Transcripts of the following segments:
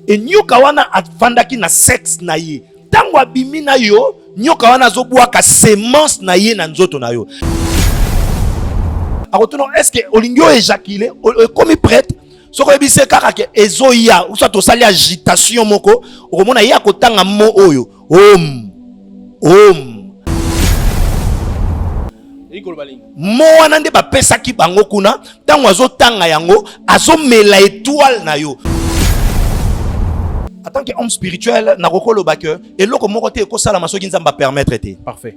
e nyoka wana afandaki na sexe na ye ntango abimi na yo nyoka wana azobwaka semence na ye na nzoto na yo akotuna eske olingi oyo ejakile ekomi prete soki oyebisi ye kaka ke ezoya usa tosali agitation moko okomona ye akotanga mo oyo Om. Om. mowana nde bapesaki bango kuna ntango azotanga yango azomela etoile na yo en tant que homme spirituel nakoki koloba ke eloko moko te ekosalama soki nzambe apermettre te parfait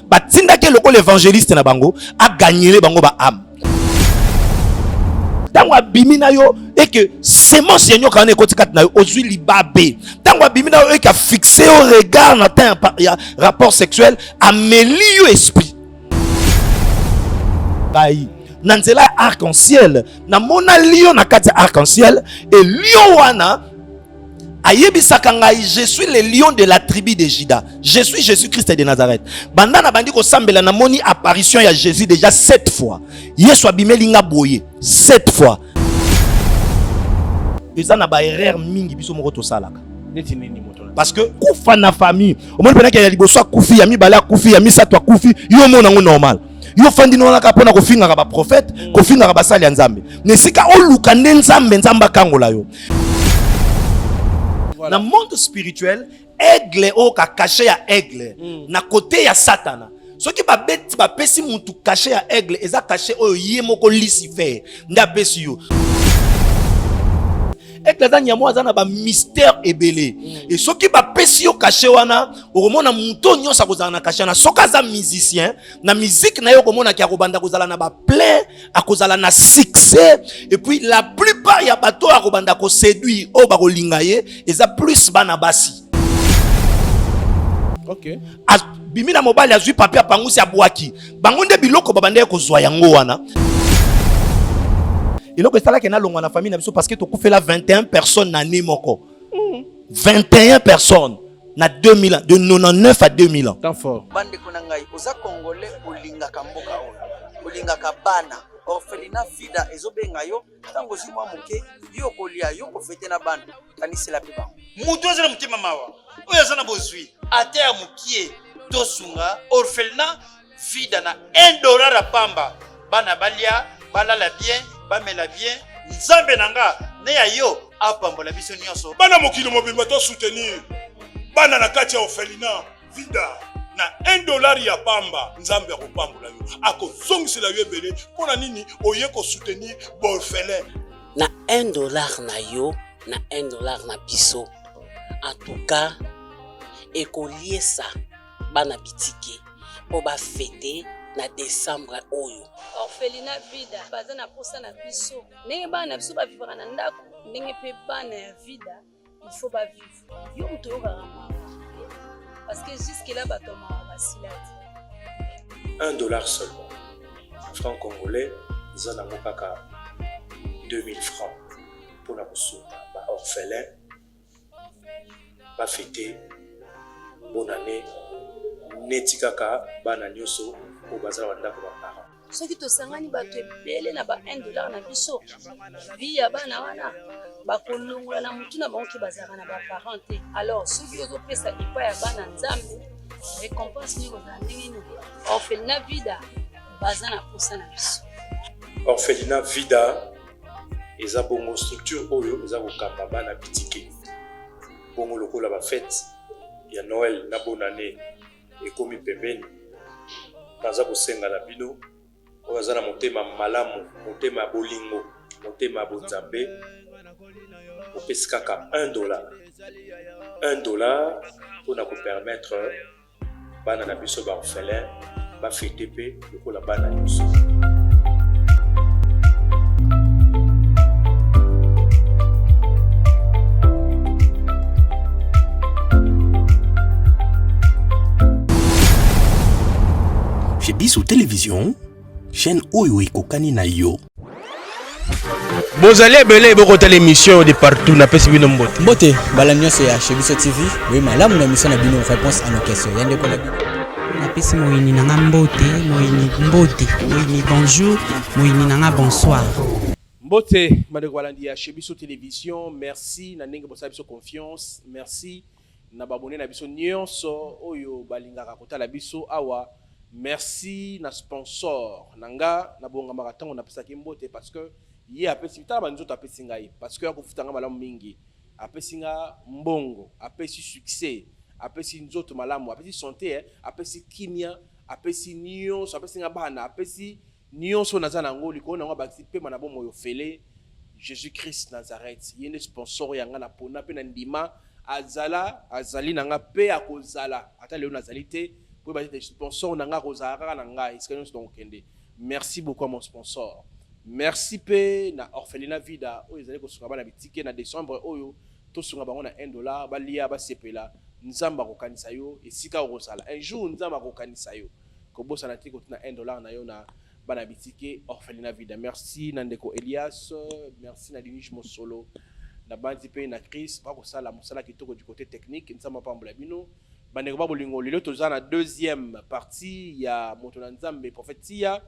batindaki ye lokola evangeliste na bango agagnele bango baame ntango abimi na yo eke semence ya nyoka wana ekoti kati na yo ozwi libabe ntango abimi na yo eke afixe yo regard na temps ya rapport sexuel ameli yo esprit bayi na nzela ya arc-en-ciel namonali yo na kati ya arc-en-ciel e lion wana ayebisaka ngai je suis le lion de la tribu de juda je suis jésus christ de nazareth banda nabandi kosambela namoni apparition ya jésus déjà sept fois yesu abimeli nga boye sept fois eza na baerreur mingi biso moko tosalaka neti nini moto parce que kufa na famille omoni mpenaki ya liboso akufi ya mibale akufi ya misato akufi yo omona yango normal yo fandi nonaka mpo na kofingaka baprofete kofingaka basali ya nzambe na esika oluka nde nzambe nzambe akangola yo voilà. na monde spirituel aigle oyo kakashe ya aigle mm. na kote ya satana soki babeti bapesi mutu kashe ya aigle eza kashe oyo ye moko lucifer nde apesi yo ete aza nyamo aza na bamystère ebele mm. e soki bapesi yo kashe wana okomona moto oyo nyonso akozala na kashe wana soki aza musicien na miziki na ye okomonaki akobanda kozala na baplein akozala na succès epuis la plupart ya bato oyo akobanda koseduire oyo bakolinga ye eza plus bana basi okay. abimi na mobali azwi papier apangusi abwaki bango nde biloko babandaki kozwa yango wana eloko esalaki nalongwa na famille na biso parce que tokufela 21 personnes na année moko 21 personnes na 2000 ans de 99 à 2000 ans temps fort bandeko na ngai oza congolais olingaka mboka oyo olingaka bana orphelina fida ezobenga yo ntango ozwi mwa moke yo okolia yo okofete na bana kanisela mpe bango moto aza na motema mawa oyo aza na bozwi ata ya mokie tosunga orphelina vida na 1 dollar ya pamba bana balia balala bien bamela bien nzambe na nga ne ya yo apambola biso nyonso bana mokili mobimba to soutenir bana na kati ya orphelina vida na 1 dollar ya pamba nzambe akopambola yo akozongisela yo ebele mpo na nini oye kosoutenir borfelin na 1 dollar na yo na 1 dollar na biso en tout cas ekoliesa bana bitike mpo bafete na desembre oyo orphelina vida baza na mposa na biso ndenge bana na biso bavivaka na ndako ndenge mpe bana ya vida il faut ba vivre yo moto oyokaka mawa parce que jusque là bato ya mawa basila te un dollar seulement franc congolais eza nango kaka 2000 francs mpo na kosunga ba orphelin bafete bonane neti kaka bana nyonso oyo bazala bandako baparent soki tosangani bato ebele na ba 1 dollar na biso vi ya bana wana bakolongola na motu na bango ke bazalaka na baparent te alors soki ozopesa epai ya bana nzambe récompense nini kozala ndenge nini orphelina vida baza na mposa na biso orphelina vida eza bongo structure oyo eza kokamba bana bitike bongo lokola bafete ya noel na bonane ekomi pembeni. Naza kosenga na bino oyo aza na motema malamu, motema ya bolingo, motema ya bonzambe, opesi kaka 1 dollar 1 dollar mpo na kopermettre bana na biso baorphelin bafete mpe lokola bana nyonso. Chez Bissou Télévision, chaîne Oyo et Kokani Nayo. bozali ebele bokotala émission de partout napesi bino mbote mbote bala nyonso ya chez biso tv boye malamu na émission na bino réponse à nos questions ya ndeko na bino napesi moyini na nga mbote moyini mbote moyini bonjour moyini na nga bonsoir mbote bandeko balandi ya chez biso télévision merci na ndenge bosala biso confiance merci na babone na biso nyonso oyo balingaka kotala biso awa merci na sponsor na nga nabongamaka ntango napesaki mbote parce que ye apesi tala banzoto apesi ngai parce que akofuta ngai malamu mingi apesi nga mbongo apesi succès apesi nzoto malamu apesi sante eh, apesi kimia apesi nyonso apesi nga bana apesi Nionso oyo naza na yango likolo na yango abakisi pema na bomoi ofele Jesus Christ Nazareth. Ye nde sponsor ya nga na pona pe na ndima azala azali na nga pe akozala ata lelo nazali te po ba sponsor na nga akozala kaka na nga esika nionso na kokende. Merci beaucoup à mon sponsor. Merci pe na orphelina vida oyo ezali kosuka bana bitike na décembre oyo tosunga bango na 1 dollar balia basepela nzambe akokanisa yo esika okozala un jour nzambe akokanisa yo kobosana te kotina 1 dollar na yo na bana bitike orphelina vida merci na ndeko elias merci na dinige mosolo na banzi mpe na cris bakosala mosala kitoko du côté technique nzambe apambola bino bandeko ba bolingo lelo toza na deuxième partie ya moto na nzambe prophète tia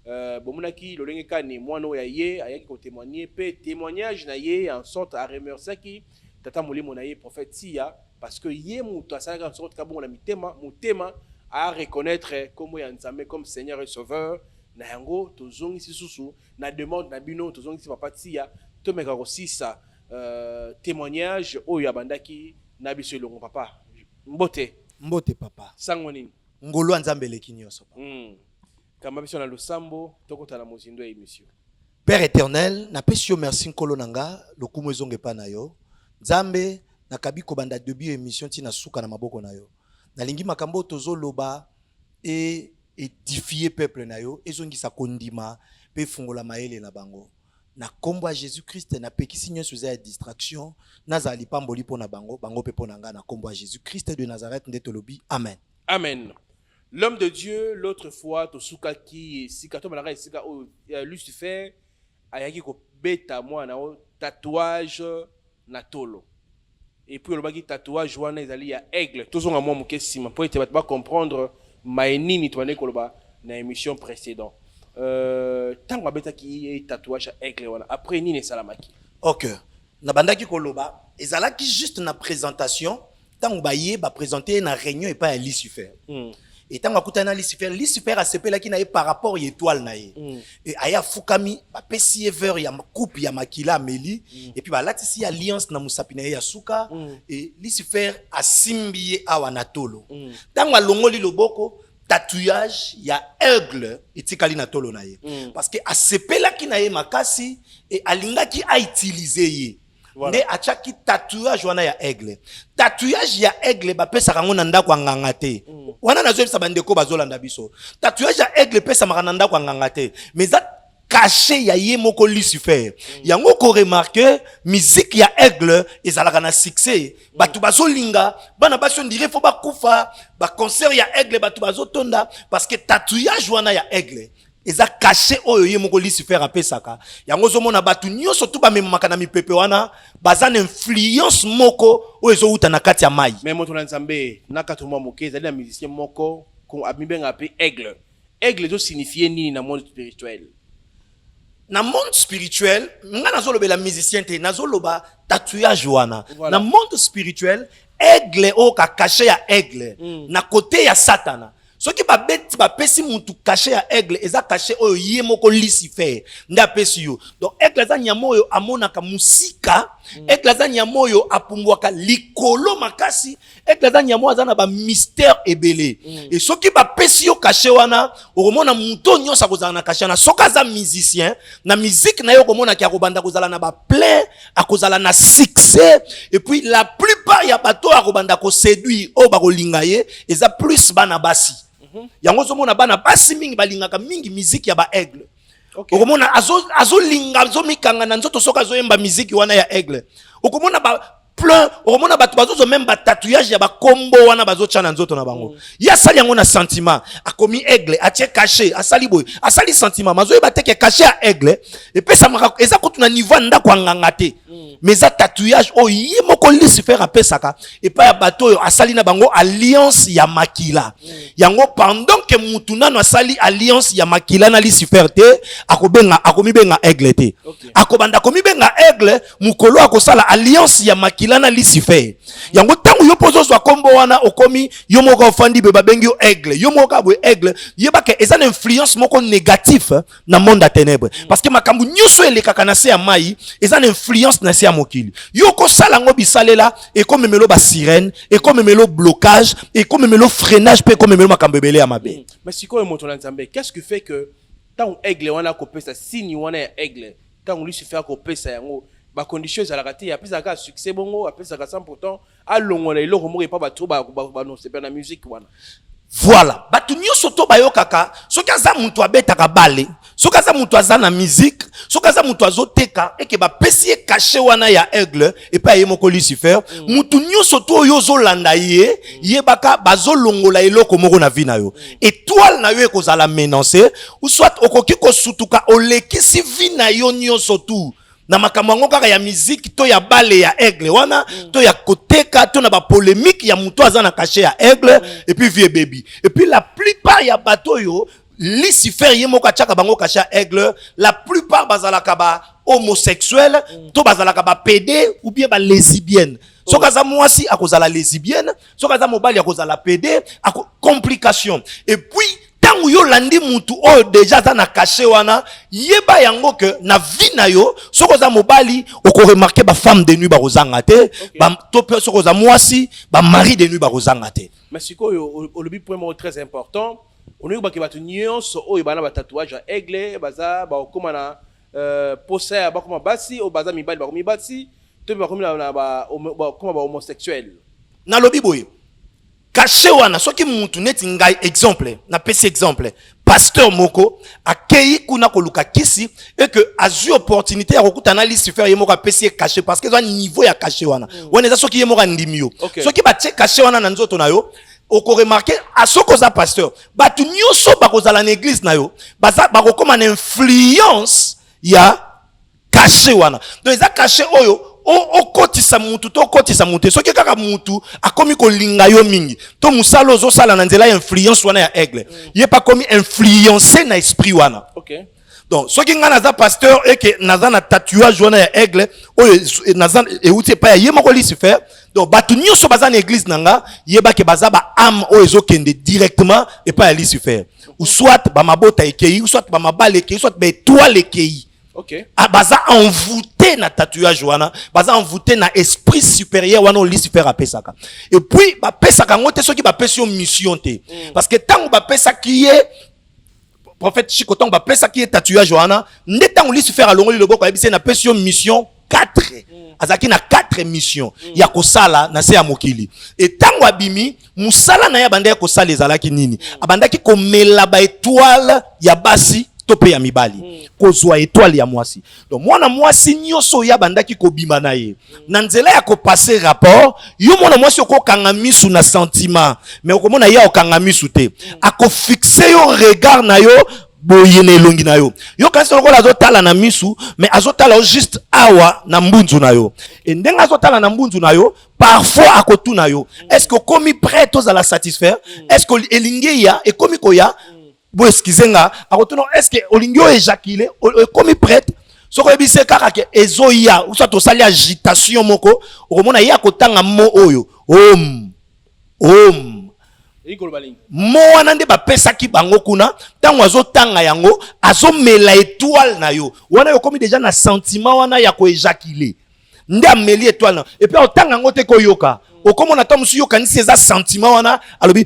euh, bomonaki lolenge kani mwana oyo ya ye ayaki kotémoigne mpe témoignage na ye en sorte aremerciaki Tata molimo na ye prophète Tsiya parce que ye mutu asalaka en sorte kabongo na mitema motema a reconnaître kombo ya Nzambe comme Seigneur et Sauveur na yango tozongisi susu na demande na bino tozongisi papa Tsiya tomeka kosisa euh, témoignage oyo abandaki na biso elongo papa mbote mbote papa sango nini ngolu ya Nzambe eleki nyonso papa mm. kamba biso na losambo tokota na mozindo ya emission Père eternel, na pesi yo merci nkolo na nga, lokumu ezonga epa na yo. Nzambe, na kabi kobanda debut emission ti na suka na maboko na yo. Nalingi makambo tozo loba e edifier peuple na yo, ezongisa kondima pe fungola mayele na bango. Na kombo ya Jesus Christ, na pekisi nionso eza ya distraction, nazala lipamboli pona bango, bango pe pona nga na kombo ya Jesus Christ de Nazareth nde tolobi amen. Amen. L'homme de Dieu, l'autre fois, tosukaki esika, tomalaka esika oyo euh, Lucifer ayaki kobeta mwana o tatouage na tolo. Et puis olobaki tatouage wana ezali ya aigle. Tozonga mwa moke nsima mpo ete bato ba comprendre maye nini tobandaki koloba na émission précédent. Euh, ntango abetaki ye tatouage ya aigle wana, après nini esalamaki? Ok. Na bandaki ko loba ezalaki juste na presentation tango ba ye ba presenter ye na reunion et pas ya Lucifer. Mm. Et tango akutana na Lucifer, Lucifer a sepelaki na ye par rapport ya étoile na ye. Mm. Et aye afukami, ba pesi ye verre ya coupe ya makila ameli mm. et puis ba latisi alliance na musapi na ye ya suka mm. et Lucifer asimbi ye awa na tolo. Mm. Tango alongoli loboko tatouage ya aigle etikali na tolo na ye mm. parce que asepelaki na ye makasi e alingaki autilize ye voilà. nde atiaki tatouage wana ya aigle tatouage ya aigle bapesaka yango na ndako ya nganga te mm. wana nazoyebisa bandeko bazolanda biso tatouage ya aigle epesamaka na ndako ya nganga te mais kashe ya ye moko lucifer yango koremarke miziki ya aigle ezalaka na succès bato bazolinga bana basi ondire fo bakufa baconcert ya aigle bato bazotonda parce que tatouage wana ya aigle eza kashe oyo ye moko lucifer apesaka yango ozomona bato nyonso tu bamemamaka na mipepe wana baza na influence moko oyo ezowuta na kati ya mai me moto na nzambe na kati mwa moke ezali na musicien moko amibengaka mpe aigle Aigle ezo signifier nini na monde spirituel? na monde spirituel nga nazolobela musicien te nazoloba tatouage wana voilà. na monde spirituel aigle oyo kakashe ya aigle mm. na kote ya satana soki babeti bapesi mutu kashe ya aigle eza kashe oyo ye moko lucifer nde apesi yo donc aigle aza nyama oyo amonaka mosika mm. aigle aza nyama oyo apumbwaka likolo makasi ete aza nyamo aza na bamystère ebele mm. e soki bapesi yo kashe wana okomona moto oyo nyonso akozala na kashe wana soki aza musicien na miziki na ye okomonaki akobanda kozala na baplein akozala na succès epuis la plupart ya bato oyo akobanda koseduire oyo bakolinga ye eza plus bana basi mm -hmm. yango ozomona bana basi mingi balingaka mingi miziki ya baaigle okay. okomona azolinga azo azomikanga na nzoto soki azoyemba miziki wana ya aigle okomona ba, plein okomona bato bazozo meme batatouillage ya bakombo wana bazotya na nzoto na bango mm. ye asali yango na sentiment akomi aigle atie cache asali boye asali sentiment mazoyeba te ke cache ya aigle epesamaka eza kutu na niveau ya ndako ya nganga te mm. mais eza tatouillage oyo ye moko lucifer apesaka epai ya bato oyo asali na bango alliance ya makila mm. yango pendant ke mutu nano asali alliance ya makila na lucifer te akobenga akomibenga aigle te akobanda komibenga aigle mokolo akosala alliance ya makila na lucifer yango ntango yo mpo ozozwa nkombo wana okomi yo moko ofandi boye babengi yo aigle yo moko kaka boye aigle yebaka eza na influence moko négatif na monde ya ténèbre mm. parce que makambo nyonso elekaka na se ya mai eza na influence na se ya mokili yo okosala yango bisalela ekomemelo basirene ekomemelo blocage ekomemelo freinage mpe ekomemelo makambo ebele ya mabe mm. mais sikoyo moto na nzambe qu'est ce que fait que ntango aigle wana akopesa signe wana ya aigle tango lucifer akopesa yango ba condition ezalaka te apesaka kaka succès bongo apesaka 100 pourtant alongola eloko moko epa bato banosepela na musique wana voilà bato nyonso to bayokaka soki aza moto abetaka bale soki aza moto aza na musique soki aza moto azoteka eke bapesi ye kashe wana ya aigle epai ya ye moko lucifer mm. motu nyonso to oyo ozolanda ye mm. yebaka bazolongola eloko moko na vie na yo mm. etoile na yo ekozala menance soit okoki kosutuka olekisi vie na yo nyonso tu na makambo yango kaka ya miziki to ya bale ya aigle wana mm. to ya koteka to na bapolemike ya moto aza na kashe ya aigle mm. epuis vie ebebi epuis la plupart ya bato oyo Lucifer ye moko atiaka bango kasha aigle la plupart bazalaka ba homosexuel mm. to bazalaka ba pede ou bien ba lesibienne oh. soki aza mwasi akozala lesibienne soki aza mobali akozala pede ako complication et puis ntango yo olandi mutu oyo deja aza na kashe wana yeba yango ke na vie na yo soki oza mobali okoremarke bafemme de nuit bakozanga te okay. to mpe soki oza mwasi bamari de nuit bakozanga te mais sikoyo olobi point moko très important olingi bake bato nyonso oyo bana ba tatouage ya aigle baza bakokoma na euh, posa ya bakoma basi oyo baza mibali bakomi basi to mpe bakomi na bakoma ba homosexuel nalobi boye kashe wana soki mutu neti ngai exemple napesi exemple pasteur moko akeyi kuna koluka kisi et que azui opportunité ya kokuta na lucifer ye moko apesi ye kashe parce que eza niveau ya kashe wana mm. wana eza soki ye moko andimi yo okay. soki batie kashe wana na nzoto na yo okoremarke ah, soki oza pasteur bato nyonso bakozala na eglise na yo bakokoma na influence ya kashe wana donc eza kashe oyo okotisa mutu to okotisa mutu te soki kaka mutu akomi kolinga yo mingi to mosala ozosala na nzela ya influence wana ya aigle mm. ye mpe akomi influence na esprit wana okay. donc soki ngai naza pasteur eke naza na tatouage wana ya aigle oyo e, naza euti epai ya ye moko lucifer donc bato nyonso baza na eglise na nga yeba ke baza ba ame oyo ezokende directement epai ya lucifer soit bamabota ekei soit bamabala ekei soit baetoile ekei okay. Ah, baza envoûté na tatouage wana baza envoûté na esprit supérieur wana oyo lucifer apesaka et puis bapesaka yango te soki bapesi yo mission te mm. parce que ntango bapesaki ye prophète Chico tango bapesaki ye tatouage wana nde tango Lucifer alongoli loboko ayebisi ye napesi yo mission 4 azalaki na 4 mission ya kosala na se ya mokili e ntango abimi mosala na ye abandaki kosala ezalaki nini abandaki komela baetoile ya basi to mpe ya mibali kozwa etoile ya mwasi Donc mwana mwasi nyonso oyo abandaki kobima na ye na nzela ya kopase rapport, yo mwana mwasi okokanga misu na sentiment, mais okomona ye okanga misu te, akofixe yo regard na yo boye na elongi na yo yo kasi lokola azotala na misu mais azotala yo juste awa na mbunzu na yo e ndenge azotala na mbunzu na yo parfois akotuna yo est ce que okomi prêt tozala satisfaire est ce que elingi eya ekomi koya bo excuse nga akotuna est ce que olingi o éjaculer ekomi prête soki oyebi se kaka ke ezoya usa tosali agitation moko okomona ye akotanga mo oyo om om mo wana nde bapesaki bango kuna ntango azotanga yango azomela etoile na yo wana yo okomi deja na sentiment wana ya koejakile nde ameli etoile na epuis otanga yango te koyoka okomona ntango mosusu yokanisi eza sentiment wana alobi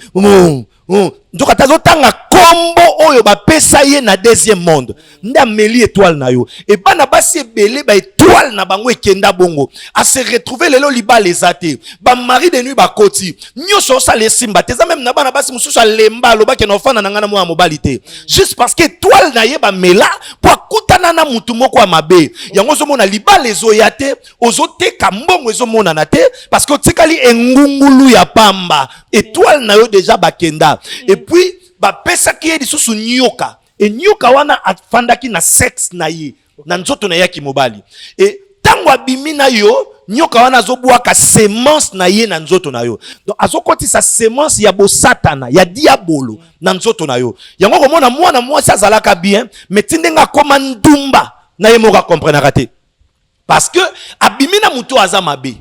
nzoka te azotanga nkombo oyo bapesa ye na deuxième monde nde ameli etoile na yo e bana basi ebele baetoile na bango ekenda bongo ase retrouve lelo libala eza te bamari de nuit bakoti nyonso osala esimba te eza meme na bana basi mosusu alemba alobaki na ofanda na ngai na mwana mobali te juste parce que etoile na ye bamela mpo akutana na motu moko ya mabe yango ozomona libala ezoya te ozoteka mbongo ezomonana te parce que otikali engungulu ya pamba etoile na yo deja bakenda epuis bapesaki ye lisusu nyoka enyoka wana afandaki na sexe na ye na nzoto na ye ya kimobali e ntango abimi na yo nyoka wana azobwaka semence na ye na nzoto na yo donc azokotisa semence ya bosatana ya diabolo na nzoto na yo yango komona mwana mwasi azalaka bien me ti ndenge akoma ndumba na ye moko akomprenaka te parce que abimi na moto aza mabe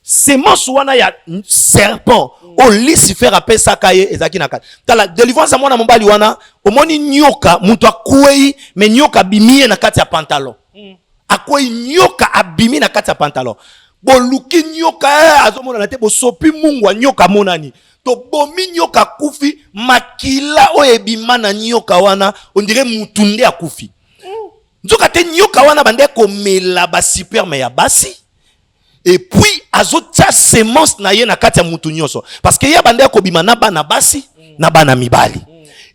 semence wana ya serpent oyo oh, lucifer apesaka ye ezalaki na kati tala delivrance ya mwana mobali wana omoni nyoka moto akwei me nyoka abimi ye na kati ya pantalon mm. akwei nyoka abimi na kati ya pantalon boluki nyoka eh, azomonana te bosopi mungwa nyoka amonani tobomi nyoka akufi makila oyo ebima na nyoka wana ondire motu nde akufi mm. nzoka te nyoka wana bande komela basuperme ya basi epuis azotia semence na ye na kati ya mutu nyonso parceke ye abandi akobima na bana basi na bana mibali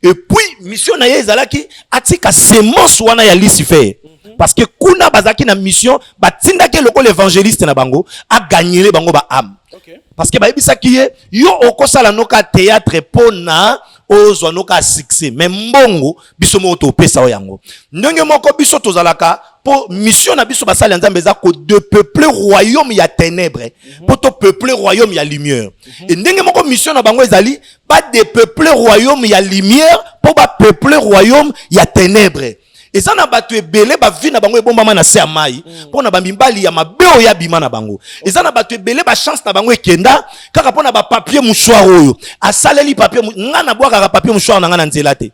epuis mission na ye ezalaki atika semence wana ya lucifer parce que kuna bazalaki na mission batindaki lokola évangéliste na bango agagnele bango ba ame okay. parce que bayebisaki ye yo okosala noka théâtre mpo na ozwa noka succès mais mbongo biso moko topesa yo yango ndenge moko biso tozalaka mpo mission na biso basali ya nzambe eza kodepeupler royaume ya ténèbre mpo mhm. topeupler royaume ya lumière mhm. e ndenge moko mission na bango ezali badepeupler royaume ya lumière mpo bapeupler royaume ya ténèbre eza na bato ebele bavi na bango ebombama na se ya mai mpo mm. na bamibali ya mabe oyo abima na bango eza na bato ebele bachance na bango ekenda kaka mpo na bapapie mouchoir oyo asaleli papie ngai nabwakaka papie mouchoir na ngai na nzela te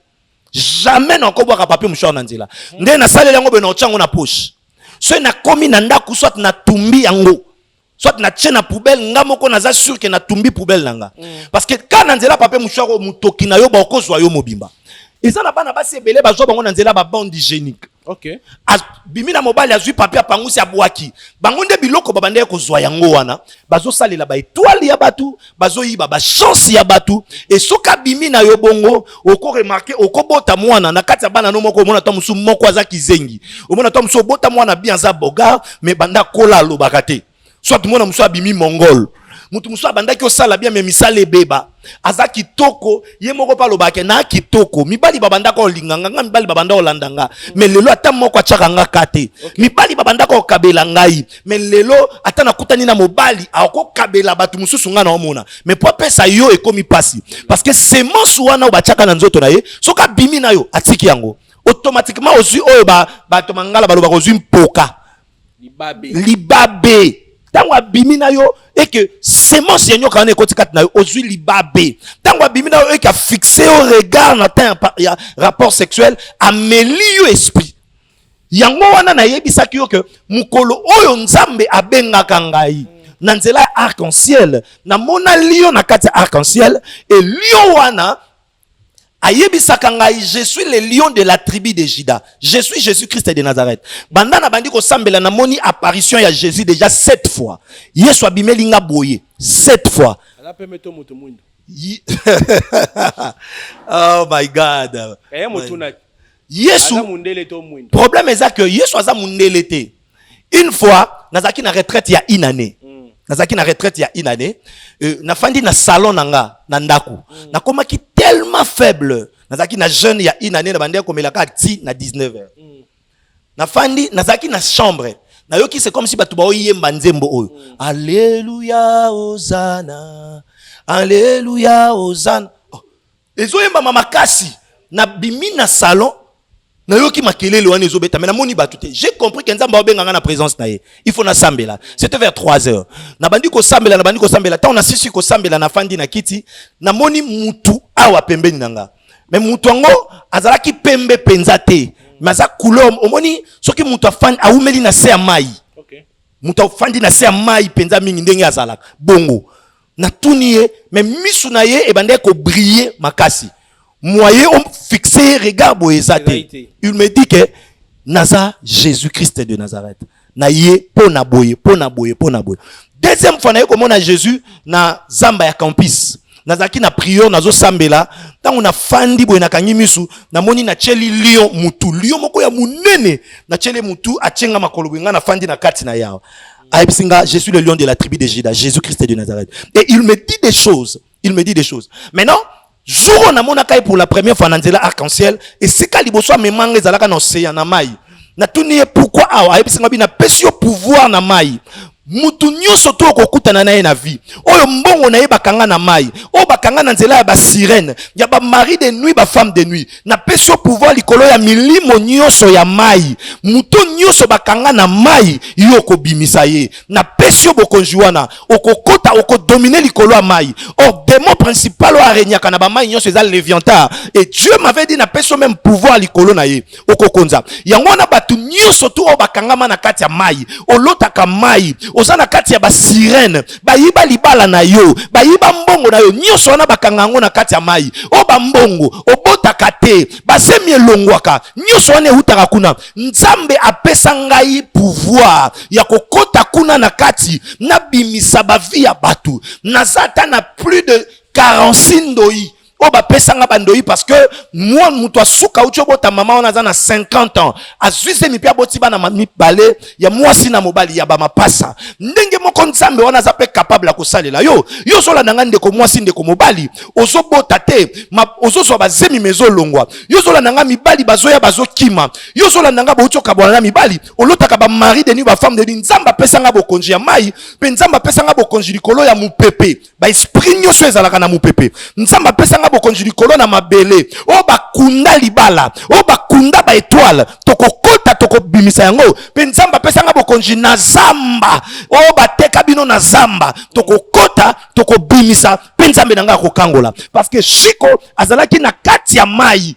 jamais nakobwaka papie mouchoir na nzela nde nasaleli yango boye naotya yango na poche soki nakomi na ndako soit natumbi yango soit natie na poubelle nga moko naza sur ke natumbi poubelle na nga mm. parce que ka na nzela papie mouchoir oyo motoki na yo baokozwa yo mobimba eza na bana basi ebele bazwa bango na nzela babande hygiénique okay. abimi na mobali azwi papier apangusi abwaki bango nde biloko babandaki kozwa yango wana bazosalela baetoile ya bato bazoyiba bachance ya bato e soki abimi na yo bongo okoremarke okobota mwana na kati ya bana no moko omona ta mosusu moko aza kizengi omona ta mosusu obota mwana bien aza bogar me banda kola alobaka te soit mwana mosusu abimi mongol moto mosusu abandaki osala bien me misala ebeba aza kitoko ye moko mpe alobaka na kitoko mibali babandaka olinga nga nga mibali babanda olanda nga me lelo ata moko atyaka nga ka te mibali babandaka okabela ngai me lelo ata nakutani na mobali akokabela bato mosusu ngai naomona me mpo apesa yo ekomi mpasi parce que semence wana oyo batyaka na nzoto na ye soki abimi na yo atiki yango automatiquement ozwi oyo bato mangala balobaka ozwi mpoka libabe libabe ntango abimi na yo eke semence ya nyoka wana ekoti kati na yo ozwi libabe ntango abimi na yo eke afixe yo regard na temps ya rapport sexuel ameli yo esprit yango wana nayebisaki yo ke mokolo oyo nzambe abengaka ngai na nzela ya arc-en-ciel namonali yo na kati ya arc-en-ciel e lion wana ayebisaka ngai je suis le lion de la tribu de juda je suis jésus christ de nazareth banda nabandi kosambela namoni apparition ya jésus déjà sept fois yesu abimeli nga boye sept fois Ye... oh my god eh, yesu problème eza que yesu aza mundele te une fois nazalaki na retraite ya une année mm. nazalaki na retraite ya une année euh, nafandi na salon na nga na ndako mm. nakomaki tellement faible nazalaki na jeune ya une année na bandaki komelaka ti na 19 heures mm. nafandi nazalaki na chambre nayoki c'est comme si bato baoyemba nzembo oyo mm. alleluya ozana alleluya ozana oh, ezoyembama makasi na bimi na salon nayoki makelele wana ezobeta me namoni bato te j'ai compris ke nzambe aobenga ngai na présence na ye il faut nasambela c'était vers 3 heures nabandi kosambela nabandi kosambela ntango nasisi kosambela nafandi na kiti namoni mutu awa pembeni na ngai me mutu yango azalaki pembe mpenza te me aza couleur omoni soki mutu afandi awumeli na se ya mai okay. mutu afandi na se ya mai mpenza mingi ndenge azalaka bongo natuni ye me misu na ye ebandaki kobrille makasi moye ofixe ye regard boye eza te il me dit ke naza jésus christ de nazareth na ye mpo na boye mpo na boye mpo na boye deuxième fois naye komona jésus na zamba ya campus nazalaki na priere nazosambela ntango nafandi boye nakangi misu namoni natyeli lion mutu lion moko ya monene natyeli mutu atyenga makolo boye ngai nafandi na kati na yawa ayebisi nga je suis le lion de la tribu de Juda Jésus Christ de Nazareth et il me dit des choses il me dit des choses maintenant jour oyo namonaka ye pour la première fois na nzela arc-en-ciel esika liboso amema nga ezalaka na ocean na mai natuni ye pourquoi awa ayebisi nga bi napesi yo pouvoir na mai mutu nyonso to okokutana na ye na vie oyo mbongo na ye bakanga na mai oyo bakanga na nzela ya basirene ya bamari de nuit bafemme de nuit napesi yo pouvoir likolo ya milimo nyonso ya mai moto nyonso bakanga na mai yo okobimisa ye napesi yo bokonzi wana okokota okodomine likolo ya mai or demo principal oyo aregnaka na bamai nyonso eza leviantar e dieu m'avait dit napesi yo meme pouvoir likolo na ye okokonza yango wana bato nyonso tu oyo bakangama na kati ya mai olotaka mai oza na kati ya basirene bayiba libala na yo bayiba mbongo na yo nyonso wana bakanga yango na kati ya mai o bambongo obotaka te basemi elongwaka nyonso wana eutaka kuna nzambe apesa ngai pouvoir ya kokota kuna na kati nabimisa bavi ya bato naza ata na plus de 46 ndoi oyo oh, bapesa nga bandoyi parce que mwa moto asuka uti obota mama wana aza na 50 ans azwi zemi mpe aboti bana mibale ya mwasi na mobali ya bamapasa ndenge moko nzambe wana aza mpe capable ya kosalela yo yo ozolanda nga ndeko mwasi ndeko mobali ozobota te ozozwa bazemi ma ezolongwa yo ozolanda nga mibali bazoya bazokima yo ozolanda nga bouti okabwana na mibali olotaka bamari de nuit bafemme de nuit nzambe apesa nga bokonzi ya mai mpe nzambe apesa nga bokonzi likolo ya mopepe baesprit nyonso ezalaka na mopepe nzambe apesa nga bokonzi likolo na mabele oyo bakunda libala oyo bakunda baetoile tokokota tokobimisa yango mpe nzambe apesa nga bokonzi na zamba oyo bateka bino na zamba tokokota tokobimisa mpe nzambe na ngai akokangola parceke shiko azalaki na kati ya mai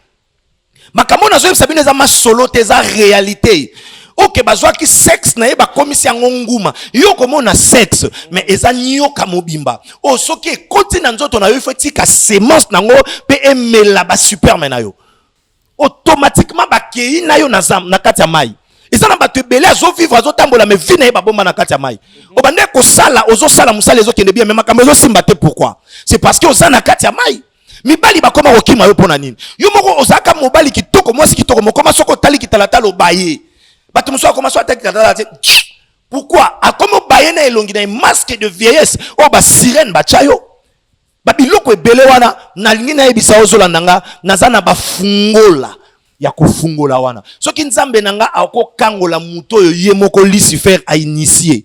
makambo oyo nazoyebisa bino eza masolo te eza realite oke bazwaki sexe na ye bakomisi yango nguma yo okomona sexe mais eza nioka mobimba oyo oh, soki ekoti na nzoto na yo ifo etika semence na yango mpe emela basuperme na yo automatiquement bakei na yo na kati ya mai eza na bato ebele azovivre azotambola me vi na ye babomba na kati ya mai mhm. obandaki kosala ozosala mosala ezokende bien me makambo ezosimba te pourquoi c'est parce que oza na kati ya mai mibali bakoma kokima yo mpo na nini yo moko ozalaka mobali kitoko mwasi kitoko mokoma soki otali kitalatala obaye bato mosusu akoma so atali kitalatala te pourkui akomi obaye na elongi na ye masque de vieillesse oyo basirene batya yo babiloko ebele wana nalingi nayebisa ozolanda nga naza na bafungola ya kofungola wana soki nzambe na nga akokangola moto oyo ye moko lucifer ainitie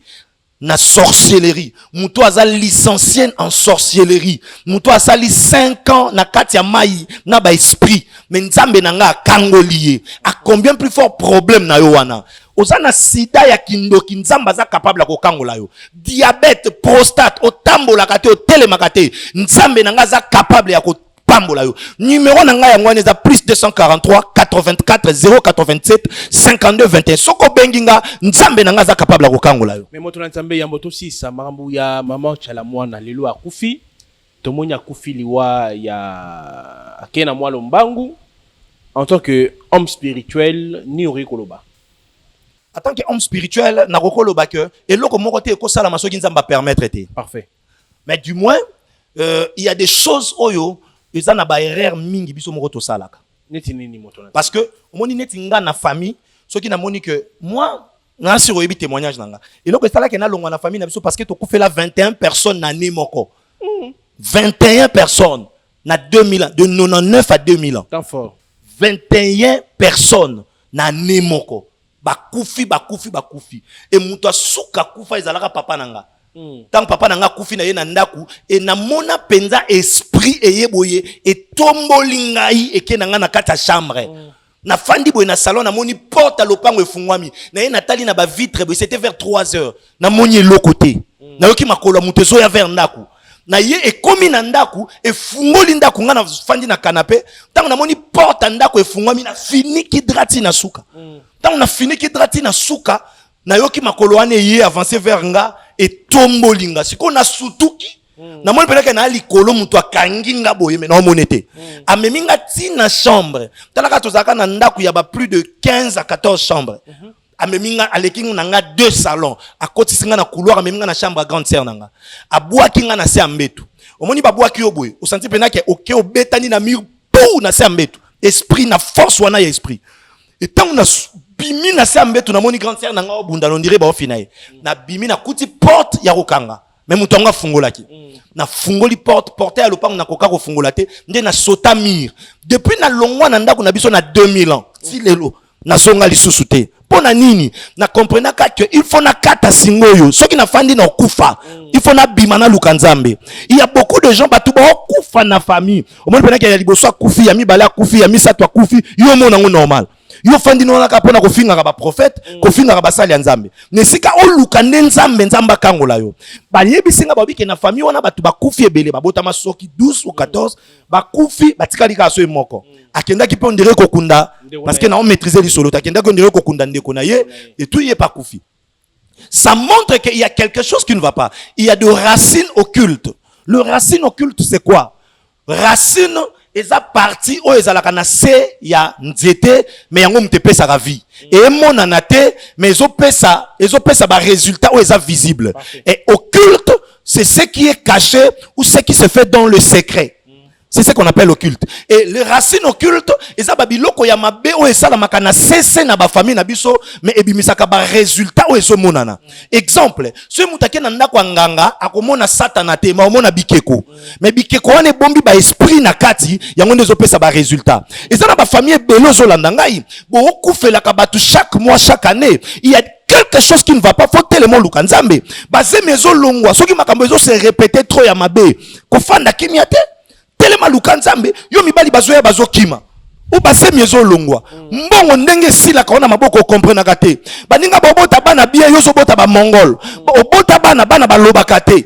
na sorcellerie moto aza licencie en sorcellerie moto asali 5 ans na kati ya mai na baesprit me nzambe na ngai akangoli ye acombien plus fort problème na yo wana oza na sida ya kindoki nzambe aza capable ya kokangola yo diabete prostate otambolaka te otelemaka te nzambe na ngai aza capable ya ko pambola yo numero na ngai yango wana eza plus 243 84 087 52 21 soki obengi nga nzambe na ngai aza capable ya kokangola yo me moto na nzambe yambo tosisa makambo ya mama chala mwana lelo akufi tomoni akufi liwa ya akei na mwa lombangu en tant que homme spirituel nini okoki koloba en tant que homme spirituel nakoki koloba ke eloko moko te ekosalama soki nzambe apermettre te parfait mais du moins euh, il y a des choses oyo eza na ba erreur mingi biso moko tosalaka neti nini moto na parce que omoni neti nga na famille soki namoni que moi na sur oyebi témoignage na nga eloko esalaki nalongwa na famille na biso parce que tokufela 21 personnes na année moko 21 mm. personnes na 2000 ans de 99 à 2000 ans temps fort 21 personnes na année moko bakufi bakufi bakufi e moto ya suka akufa ezalaka papa na nga ntango papa na nga akufi na ye na ndako e namona mpenza esprit eye boye etomboli ngai eke na ngai na kati ya chambre nafandi boye na salon namoni porte ya lopango efungwami na ye natali na bavitre boye c'était vers 3 heures namoni eloko te mm. nayoki makolo ya moto ezoya vers ndako na ye ekomi na ndako efungoli ndako ngai nafandi na kanape ntango namoni porte ya ndako efungwami na finiki drati na suka mm. ntango na finiki drati na suka nayoki makolo wana eye avance vers nga etomboli nga sikoyo nasutuki mm. namoni mpenaka na likolo moto akangi nga boye me naomone te mm. amemi nga ti na chambre talaka tozalaka na ndako ya ba plus de 15 à 14 chambre mm -hmm. amemi nga aleki nga na nga deux salons akotisi nga na couloir amemi nga na chambre ya grande sœur na nga abwaki nga na se ya mbetu omoni babwaki yo boye osanti mpena ke oke obetani na mur pou na se ya mbetu esprit na force wana ya esprit etango na bimi na se ya mbetu namoni grande sœur na nga obunda nondire baofi na ye nabimi nakuti porte ya kokanga me moto yango afungolaki mm. nafungoli porte porte ya lopango nakoka kofungola te nde nasota mur depuis nalongwa na ndako na biso na 2000 ans ti lelo nazonga lisusu te mpo na nini na comprenaka ke il faut nakata singa oyo soki nafandi na okufa mm. il faut nabima naluka nzambe il y a beaucoup de gens bato baokufa na famille omoni mpenaki ya liboso akufi ya mibale akufi ya misato akufi yo omona yango normal yo ofandi nonaka mpo na kofingaka baprofete mm. kofingaka basali ya nzambe na esika oluka nde nzambe nzambe akangola yo bayebisi nga babike na famille wana bato bakufi ebele babotama soki 12 ou 14 mm. bakufi batikali kaka soki moko mm. akendaki mpe ondire kokunda parce que nao maîtrise lisolo te akendaki ondire kokunda ndeko na ye etui ye pakufi ça montre qu'il y a quelque chose qui ne va pas il y a de racines occultes le racine occulte c'est quoi racine eza parti oyo ezalaka na se ya nzete me yango moto epesaka vie mm. emonana te me ezopesa ezopesa baresultat oyo eza visible e occulte C'est ce qui est caché ou ce qui se fait dans le secret. C'est ce qu'on appelle occulte. Et les racines occultes, eza ba biloko ya mabe oyo esalamaka na sese na ba famille na biso, mais ebimisaka ba résultats oyo ezomonana. Exemple, soki moto ake na ndako ya nganga, akomona satana te, mais omona bikeko. Mais bikeko wana ebombi ba esprit na kati, yango nde ezopesa ba résultats. Eza na ba famille ebele ozolanda ngai, bokokufelaka bato chaque mois, chaque année. Il y a quelque chose qui ne va pas faut telema oluka nzambe bazemi ezolongwa soki makambo ezo se répéter trop ya mabe kofanda kimia te telema luka nzambe yo mibali bazoya bazokima o basemi ezolongwa mbongo ndenge esilaka wana maboko okomprenaka te baninga bobota bana bie yo ozobota bamongol obota bana bana balobaka te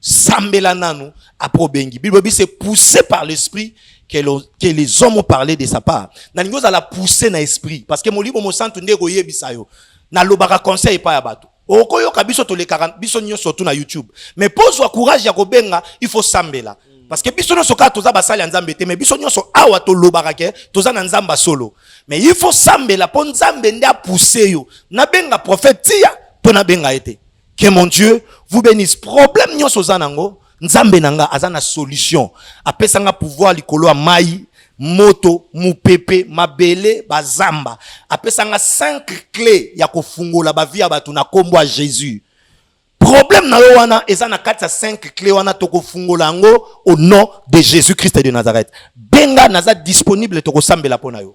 Sambela nanu après obengi. Bible c'est poussé par l'esprit que, que les hommes ont parlé de sa part. Nalingi ozala poussé na esprit parce que molimo mosantu nde ekoyebisa yo. Nalobaka conseil epai ya bato. Okoyoka biso tolekaka biso nyonso tu na YouTube. Mais mpo ozwa courage ya kobenga, il faut sambela. Parce que biso nyonso kaka toza basali ya Nzambe te, mais biso nyonso awa tolobaka ke toza na Nzambe solo. Mais il faut sambela mpo Nzambe nde apousse yo. Nabenga prophète tia mpo nabenga ye te. Que mon Dieu vous bénisse. Problème nyonso oza nango, Nzambe na nga aza na solution. Apesa nga pouvoir likolo ya mai, moto, mupepe, mabele, bazamba. Apesa nga cinq clés ya kofungola ba vie ya bato na kombo ya Jésus. Problème na yo wana eza na kati ya cinq clés wana tokofungola yango au nom de Jésus-Christ de Nazareth. Benga naza disponible tokosambela mpo na yo.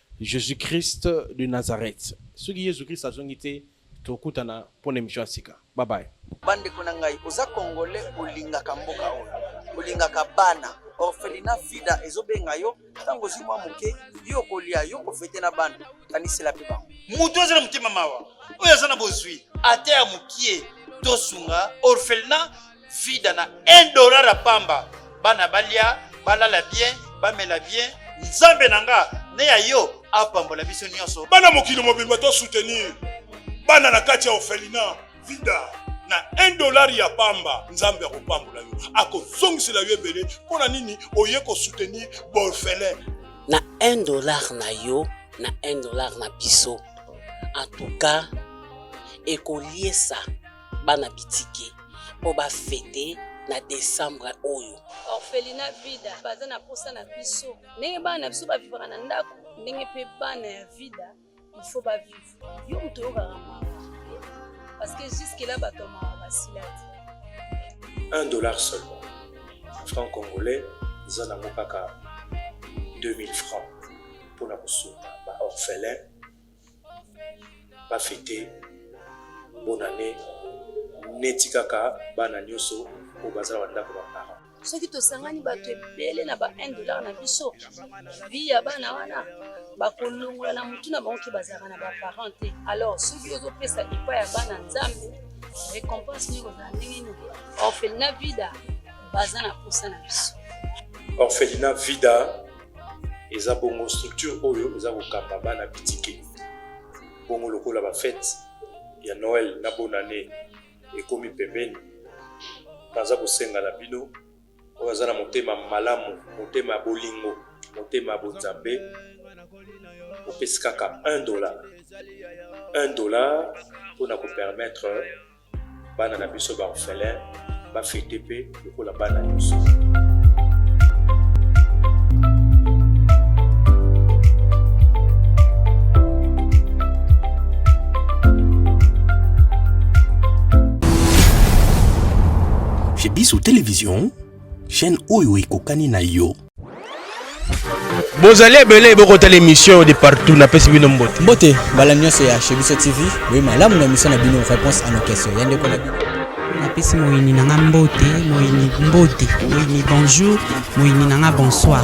Jesus Christ de Nazareth. Soki Yesu Christ azongi te, tokutana mpo na emission ya sika. Bye bye. Bandeko na ngai, oza Congolais, olingaka mboka oyo, olingaka bana orphelina fida ezobenga yo ntango ozwi mwa moke yo okolia yo kofete na bana kanisela mpe bango moto aza na motema mawa oyo aza na bozwi ata ya mokie tosunga orphelina vida na 1 dollar ya pamba bana balia balala bien bamela bien nzambe na nga ne ya yo apambola biso nyonso bana mokili mobimba to soutenir bana na kati ya ofelina vida na 1 dollar ya pamba nzambe akopambola yo akozongisela yo ebele mpo na nini oye kosoutenir borfelin na 1 dollar na yo na 1 dollar na biso en tout cas ekoliesa bana bitike mpo bafete na desembre oyo orphelina vida baza na mposa na biso ndenge bana na biso bavivaka na ndako ndenge mpe bana ya vida ilfo bavive yo moto oyokaka mawa parce que jusque là bato ya mawa basila te un dollar seulement franc congolais eza nango kaka 2000 francs mpona kosunga baorphelin ba fete bonne année neti kaka bana nyonso oyo baza na bandako ba parent soki tosangani bato ebele na ba 1 dollar na biso vi ya bana wana bakolongola na motu na bango ke bazalaka na baparent te alors soki ozopesa epa ya bana nzambe récompense nini kozala ndenge nini orphelina vida baza na posa na biso orphelina vida eza bongo structure oyo eza kokamba bana bitike bongo lokola bafete ya noel na bonane ekomi pembeni naza kosenga na bino oyo aza na motema malamu motema ya bolingo motema ya bonzambe opesi kaka 1 dollar 1 dollar mpo na kopermettre bana na biso ba orphelin ba fete pe lokola bana nyonso Chez Bissou Télévision, chaîne oyo ekokani na yo. bozali ebele bokotala émission de partout napesi bino mbote mbote mbala nyonso ya chez biso tv boye malamu na émission na bino réponse à nos questions ya ndeko na bino napesi moyini na nga mbote moyini mbote moyini bonjour moyini na nga bonsoir